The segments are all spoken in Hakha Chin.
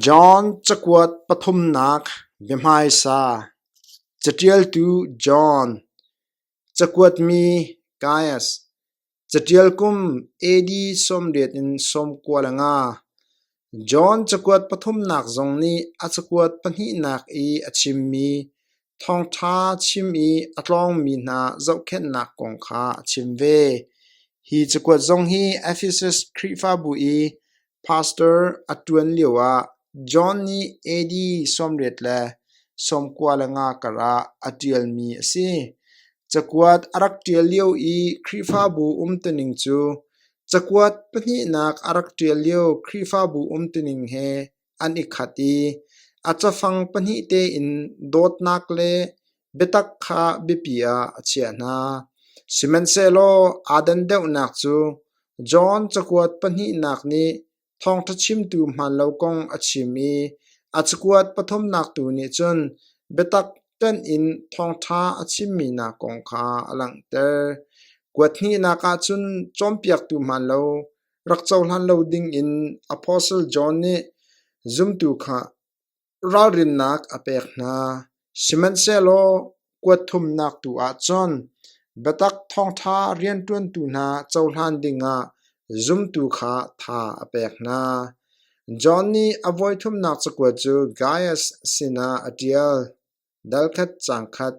John cakuat pathumnak biahmaisa Caṭialtu John, cakuatmi Gaius, caṭial kum AD sawmriat in sawmkua le nga, John cakuat pathumnak zong nih a cakuat pahnihnak i a chimmi Thawngṭha chim i a tlawngmi hna zohkhenhnak kong kha a chim ve. Hi cakuat zong hi Efesus Khrihfabu i pastor a ṭuan lioah John nih AD sawmriat le sawmkua le nga karah a ṭialmi a si. Cakuat a rak ṭial lio i Khrihfabu umtuning cu cakuat pahnihnak a rak ṭial lio Khrihfabu umtuning he an i khat i a cafang pahnih tein dawtnak le biatak kha biapi ah a chiah hna. Sihmanhsehlaw aa dan deuhnak cu John cakuat pahnihnak nih thawngṭha chimtu hmaanlo kong a chim i a cakuat pathumnak tu nih cun biatak pen in thawngṭha a chimmi hna kong kha a langhter. Kuat hnihnak ah cun cawnpiaktu hmaanlo rak cohlan lo dingin Apostle John nih zumtu kha ralrinnak a pek hna. Sihmanhsehlaw kuat thumnak tu ahcun biatak thawngṭha rianṭuantu hna cohlan dingah zumtu kha tha a pek hna. John nih a voithumnak cakuat cu Gaias sinah a ṭial. Dalkhat cangkhat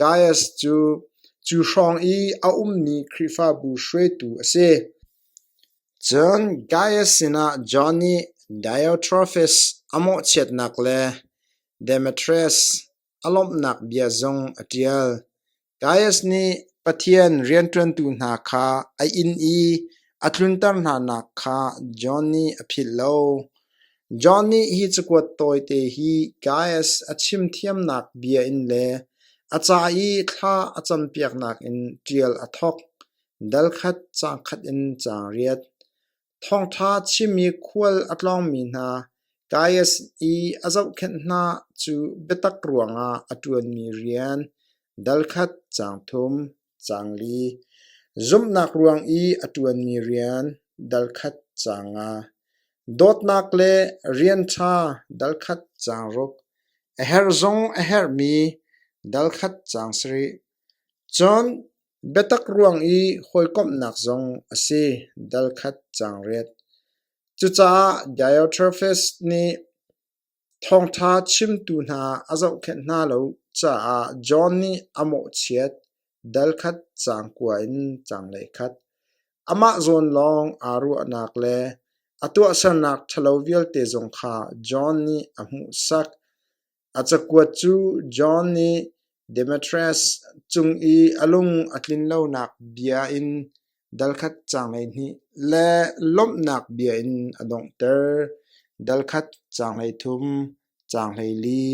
Gaius cu cu hrawng i a ummi Khrihfabu hruaitu a si. Cun Gaius sinah John nih Diotrephes a mawhchiatnak le Demetrius a lawmhnak bia zong a ṭial. Gaias nih Pathian rianṭuantu hna kha a inn i a tlunter hnanak kha John nih a philh lo. John nih hi cakuat tawite hi Gaias a chim thiamnak bia in le a ca i thla a campiaknak in ṭial a thawk. Dal khat, caang khat in ca riat. Thawngṭha chimmi khual a tlawngmi hna Gaias i a zohkhenh hna cu biatak ruangah a ṭuanmi rian, dalkhat caang thum, caang li, zumhnak ruang i a ṭuanmi rian, dalkhat caang nga, dawtnak le rian ṭha, dalkhat caang ruk, a herh zong a herhmi, dalkhat caang sarih. Cun Biatak ruang i hawikomhnak zong a si dal khat caangriat. Cucaah Diotrephes nih thawngṭha chimtu hna a zohkhenh hna lo caah John nih a mawhchiat dal khat caang kua in caanglei khat. Amah zawn lawng aa ruahnak le a tuahsernak ṭhalo vialte zong kha John nih a hmuhsak. A cakuat cu John nih Demetrius cung i a lung a tlinlonak bia in dalkhat caang hleihnih le lawmhnak bia in a donghter. Dalkhat caang hleithum, caang hleili.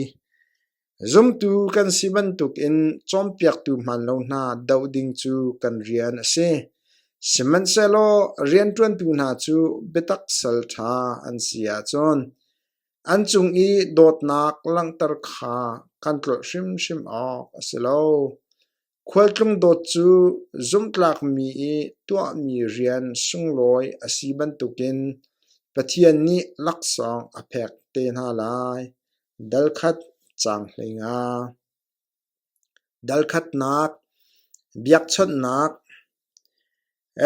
Zumtu kan si bantukin cawnpiaktu hmaanlo hna doh ding cu kan rian a si. Sihmanhsehlaw rianṭuantu hna cu biatak sal ṭha an si ahcun An cung i dawtnak langhter kha kan tlolh hrimhrim awk a si lo. Khualtlung dawt cu zumhtlakmi i tuahmi rian sunglawi a si bantukin Pathian nih laksawng a pek te hna lai. Dal khat, caang hleinga. Dalkhatnak, biakchawnhnak,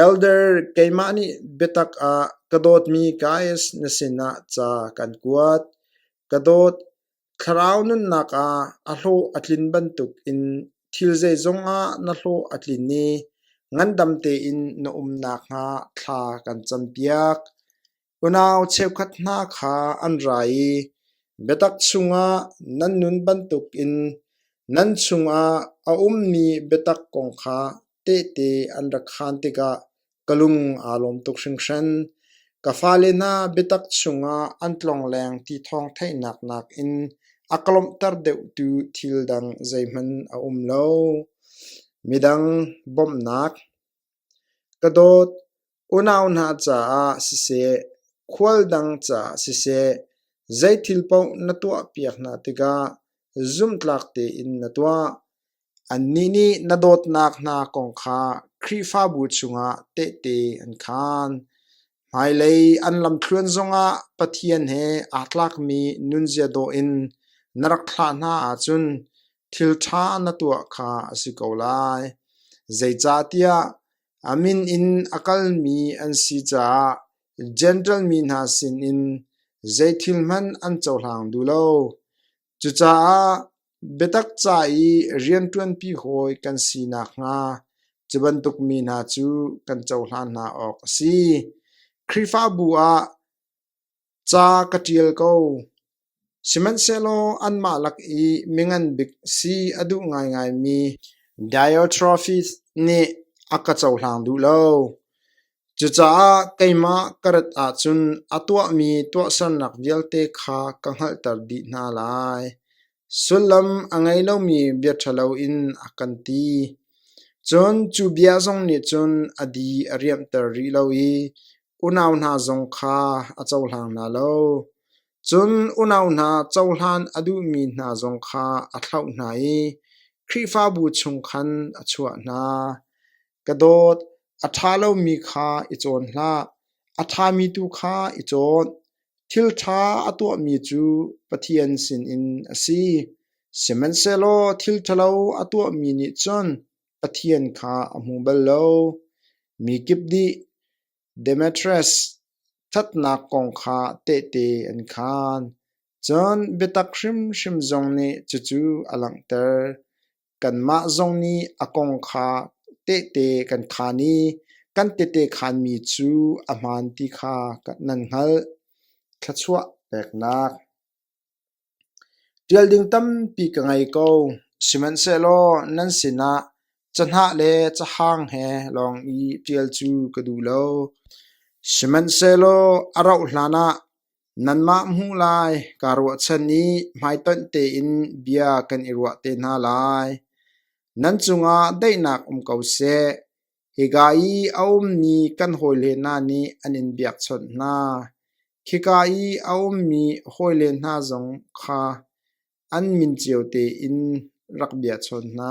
Elder keimah nih biatak ah ka dawtmi Gaius na sinah ca kan kuat. Ka dawt, thlarau nunnak ah a hlawh a tlin bantukin thil zeizong ah na hlawh a tlin i ngandam tein na um nakhnga thla kan campiak. Unau cheukhat hna kha an ra i biatak chungah nan nun bantukin nan chungah a ummi biatak kong kha tehte an rak khaan tikah ka lung aa lawm tuk hringhran. Ka fale hna biatak chungah an tlongleng ti thawng theihnak nakin a ka lawmhter deuhtu thil dang zeihmanh a um lo. Midang bawmhnak. Ka dawt, Unau hna caah siseh, khual dang caah siseh, zeithil paoh na tuahpiak hna tikah zumhtlak tein na tuah. Annih nih na dawtnak hna kong kha Khrihfabu chungah tehte an khaan. Hmailei an lamthluan zongah Pathian he aa tlakmi nunzia dawh in na rak thlah hna ahcun thil ṭha na tuah kha a si ko lai. Zeicahtiah A min in a kalmi an si caah Jentail mi hna sinin zeithil hmanh an cohlang duh lo. Cucaah biatak ca i rianṭuanpi hawi kan si nakhnga cu bantuk mi hna cu kan cohlan hna awk a si. Khrihfabu ah Ca ka ṭial ko, sihmanhsehlaw anmah lak i mingan bik si a duh ngaingaimi Diotrephes nih a ka cohlang duh lo. Cucaah keimah ka rat ahcun a tuahmi tuahsernak vialte kha ka hngalhter dih hna lai. Sullam a ngei lomi bia ṭhalo in a kan ti. Cun cu bia zong nih cun a di a riamhter rih lo i Unau hna zong kha a cohlang hna lo, cun unau hna cohlan a duhmi hna zong kha a thlauh hna i Khrihfabu chung khan a chuah hna. Ka dawt, a ṭha lomi kha i cawn hlah, a ṭhami tu kha i cawn. Thil ṭha a tuahmi cu Pathian sinin a si, sihmanhsehlaw thil ṭhalo a tuahmi nih cun Pathian kha a hmu bal lo. Mi kip nih Demetrius ṭhatnak kong kha tehte an khaan. Cun biatak hrimhrim zong nih cucu a langhter. Kanmah zong nih a kong kha tehte kan khaan i kan tehte khaanmi cu a hmaan ti kha nan hngalh. Thluachuah peknak Ṭial ding tampi ka ngei ko, sihmanhsehlaw nan sinah cahnah le cahang he lawng i ṭial cu ka duh lo. Sihmanhsehlaw a rauh hlanah nanmah hmuh lai kaa ruahchan i hmaitonh tein bia kan i ruah te hna lai. Nan cungah daihnak um ko seh. Hika i a ummi kan hawile hna nih an in biakchawnh hna; khika i a ummi hawile hna zong kha an min cio tein rak biahchawn hna.